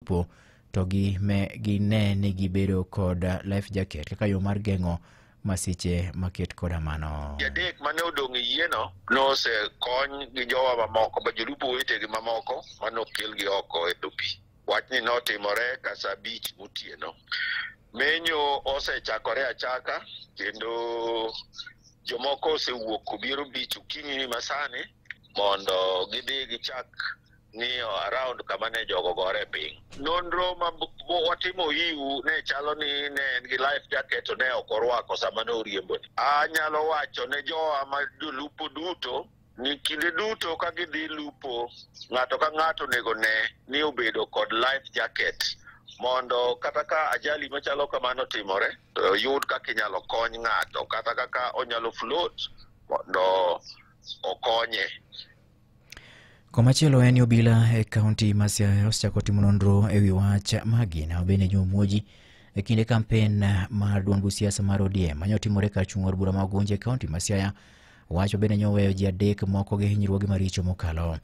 po to gi me gi ne ni gibedo kod life jacket kaka yo mar geng'o masiche maket koda mano. Jadek mane odong' e yieno nosekony gi jowa mamoko ma jolupo wetegi mamoko mane okelgi oko e dho pi. Wachni notimore ka saa abich motieno. Menyo osechakore achaka kendo jomoko osewuok obiero bich okinyi ni masani mondo gidhi gichak ni around kama ne jogo gore e piny. Nonro ma watimo iu ne chalo ni ne en gi life jacket to ne ok orwako sama ne oriembo ni. Anyalo wacho ne jowa ma jolupo duto ni kinde duto ka gidhi lupo ng'ato ka ng'ato onego ne ni obedo kod life jacket mondo kata ka ajali machalo kamano timore to yud kaka inyalo kony ng'ato kata kaka onyalo float mondo okonye. Komachielo en ni obila e kaunti ma Siaya osechako timo nonro e wi wach magina obene jomuoji e kinde kampen mar duond buch siasa mar ODM mane otimore kar chung' od bura ma Ugunja e kaunti ma Siaya. Wach obene ne oweyo ji adek moko gi hinyruoge maricho mokalo.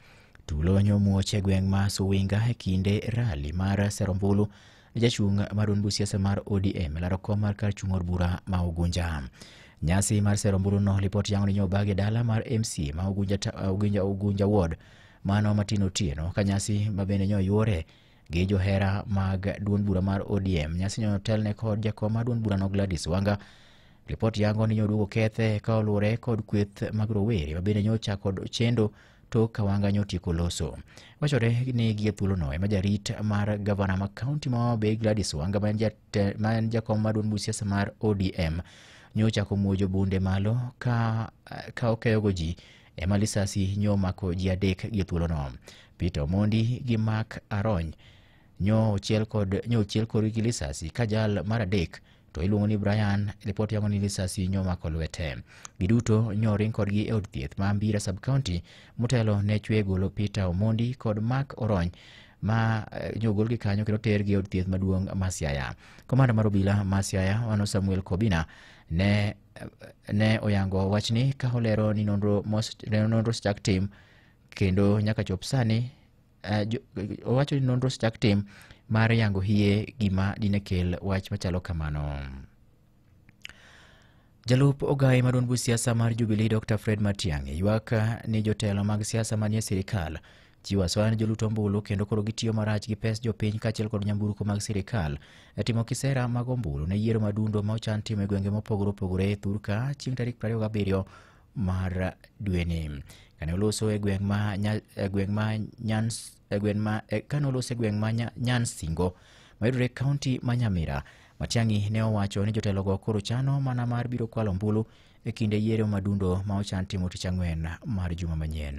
Tulo ne omuoch e gweng' ma Suwinga e kinde rali mar Serombulu Jachung' mar duond siasa mar ODM laro kom mar kar chung' od bura ma Ugunja. Nyasi mar sero omburuno lipot yango ni nyobagi dala mar MC ma Ugunja, ta- Ugunja, Ugunja Ward mano Martin Otieno ka nyasi ma bende nyo yuore gi johera mag duond bura mar ODM. Nyasi nyo telne kod jakom mar duond burano Gladys Wanga Ripot yango ni nyoduogo kethe ka oluwore kod kweth mag rowere ma bende nyocha kod chendo tok ka wanga nyotieko loso. Wachore ni gie thuolono ema jarit mar gavana ma kaunti ma Homa Bay Gladys Wanga ma en jate- ma en jakom maduong' bug siasa mar ODM nyochako muojo bunde malo ka, ka okeyogo ji ema lisasi nyomako ji adek gie thuolono. Peter Omondi gi Mark Arony nyo ochiel kod nyo ochiel korgi gi lisasi ka jal mar adek to iluongo ni Brian, lipot yango ni lisasi nyomako lwete. Giduto nyoring kodgi e od thieth ma Mbira sub county motelo ne chwe golo Peter Omondi kod Mark Orony ma eh, nyogol gi kanyo kendo tergi e od thieth maduong' ma Siaya. Komanda mar obila ma Siaya mano Samuel Kobina ne ne oyango wachni ka olero ni nonro mos- ne nonro chak tim kendo nyaka chop sani eh, jo- owacho ni nonro osechak tim mar yango hie gima dine kel wach machalo kamano. Jalup ogaye maduong' bug siasa mar Jubilee Dr. Fred Matiang'i ywak ni jotelo mag siasa manie sirikal chiwo asoya ne jolut ombulu kendo koro gitiyo marach gi pes jopiny kaachiel kod nyamburko mag sirikal e timo kisera mag ombulu ne yiero madundo ma ochan timo e gwenge mopogore opogore e thurka chieng' tarik 27 mar dweni kane oloso e gweng' ma Nya- e gweng' ma Nyans- e gweng' ma e- kane oloso e gweng' ma Nya- Nyansingo mayudore e kaunti ma Nyamira Matiang'i ne owacho ni jotelogo koro chano mana mar biro kwalo ombulu e kinde yiero madundo ma ochan timo tich ang'wen mar juma manyien.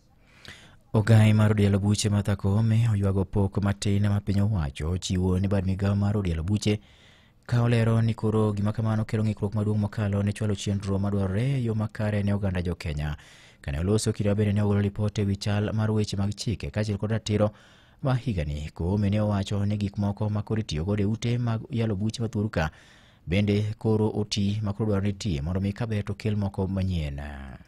Ogai mar odielo buche Martha Koome oywago pok matin ma piny owacho ochiwo ni bad migawo mar odielo buche ka olero ni koro gima kamano kelo ng'ikruok maduong' mokalo ne chwalo chenro madwarore e yo makare ne oganda jo Kenya. Kane oloso kira bende ne ogolo ripot e wi chal mar weche mag chike kaachiel kod ratiro ma higani. Koome ne owacho ni gik moko ma koro itiyo godo e ute mag yalo buche mathuoru ka bende koro oti ma koro dwarore ni iti mondo mi kaber to kel moko manyien.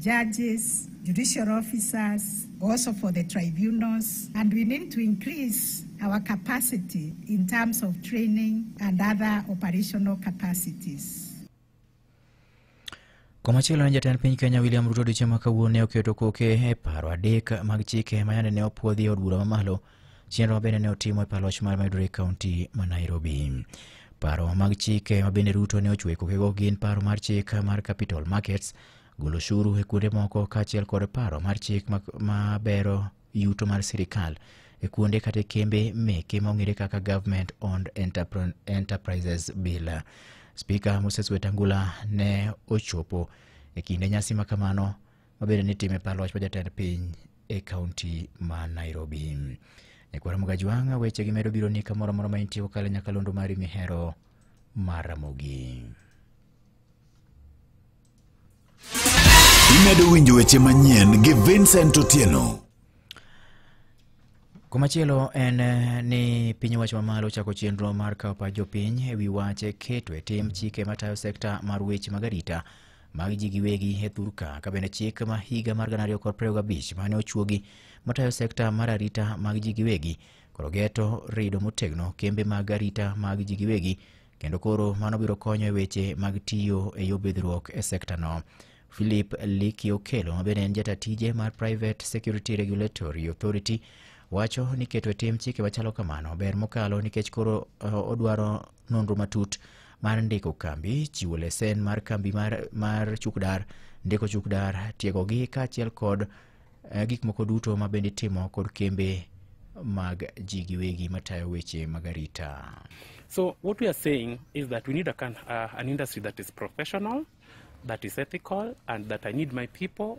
judges, judicial officers, also for the tribunals, and we need to increase our capacity in terms of training and other operational capacities. Komachielo ne jatend piny Kenya William Ruto odiochieng' ma kawuono ne oketo koke e paro adek mag chike ma yande ne opuodhi e od bura mamalo Chenro bende ne otimo e paloch mar Maiduguri County ma Nairobi. Paro mag chike ma bende Ruto ne ochwe kokego gin paro mar chik mar Capital Markets, golo ushuru e kuonde moko kaachiel kod paro mar chik ma- ma bero yuto mar sirkal e kuonde kata e kembe meke ma ong'ere kaka Government Owned Enterpr- Enterprises Bill. Spika Moses Wetangula ne ochopo e kinde nyasi ma kamano mabende ni time par loch ma jatend piny e kaunti ma Nairobi. Nyakwar Mugajwanga weche gi medo biro ni kamoro amora ma intie kokalo e nyakalondo mari mihero mar Ramogi. Imedo winjo weche manyien gi Vincent Otieno. Komachielo en eh, ni piny owacho mamalo ochako chenro mar kawo pach jopiny e wi wach keto e tim chike matayo sekta mar weche mag arita mag ji giwegi e thurka ka bende chik ma higa mar gana ariyo kod piero gabich mane ochuogi matayo sekta mar arita mag ji giwegi koro geto rido motegno kembe mag arita mag ji giwegi kendo koro mano biro konyo e weche mag tiyo e yo bidhruok e sektano philip liki okelo ma bende en jata tije mar private security regulatory authority wacho ni keto e tim chike machalo kamano ber mokalo nikech koro eh, odwaro nonro matut mar ndiko kambi, chiwo lesen mar kambi mar, mar chukdar, ndiko chukdar, tiegogi kaachiel kod eh, gik moko duto ma bende itimo kod kembe mag ji giwegi matayo weche mag arita. So what we are saying is that we need a can, uh, an industry that is professional, that is ethical, and that I need my people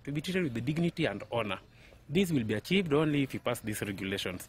to be treated with the dignity and honor. This will be achieved only if you pass these regulations.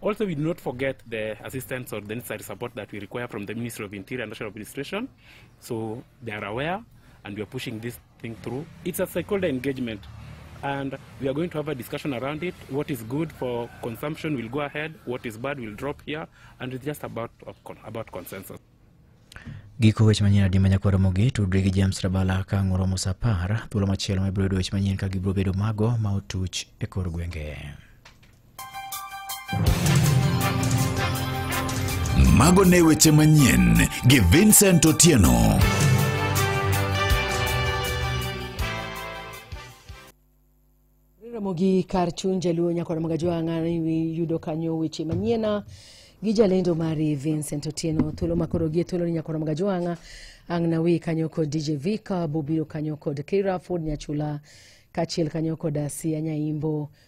Also, we do not forget the assistance or the necessary support that we require from the Ministry of Interior and National Administration. So they are aware and we are pushing this thing through. It's a stakeholder engagement and we are going to have a discussion around it. What is good for consumption will go ahead, what is bad will drop here, and it's just about, about consensus. Giko weche manyien adi manyakwaro mogi tudri gi James Rabala ka ng'uro Musa Par thuolo machielo ma ibiro yudo weche manyien ka gibiro bedo mago ma otuch e kor gwenge. Mago ne weche manyien gi Vincent Otieno. Ramogi kar chuny jaluo nyako na magajo ang'ani yudo kanyo weche manyien gi jalendo mari Vincent Otieno thuolo makoro gie thuolo ni nyako na magajo ang'a ang' na wi kanyo kod DJ Vika bobiro kanyo kod Kira Ford Nyachula kachiel kanyo kod Asia Nyaimbo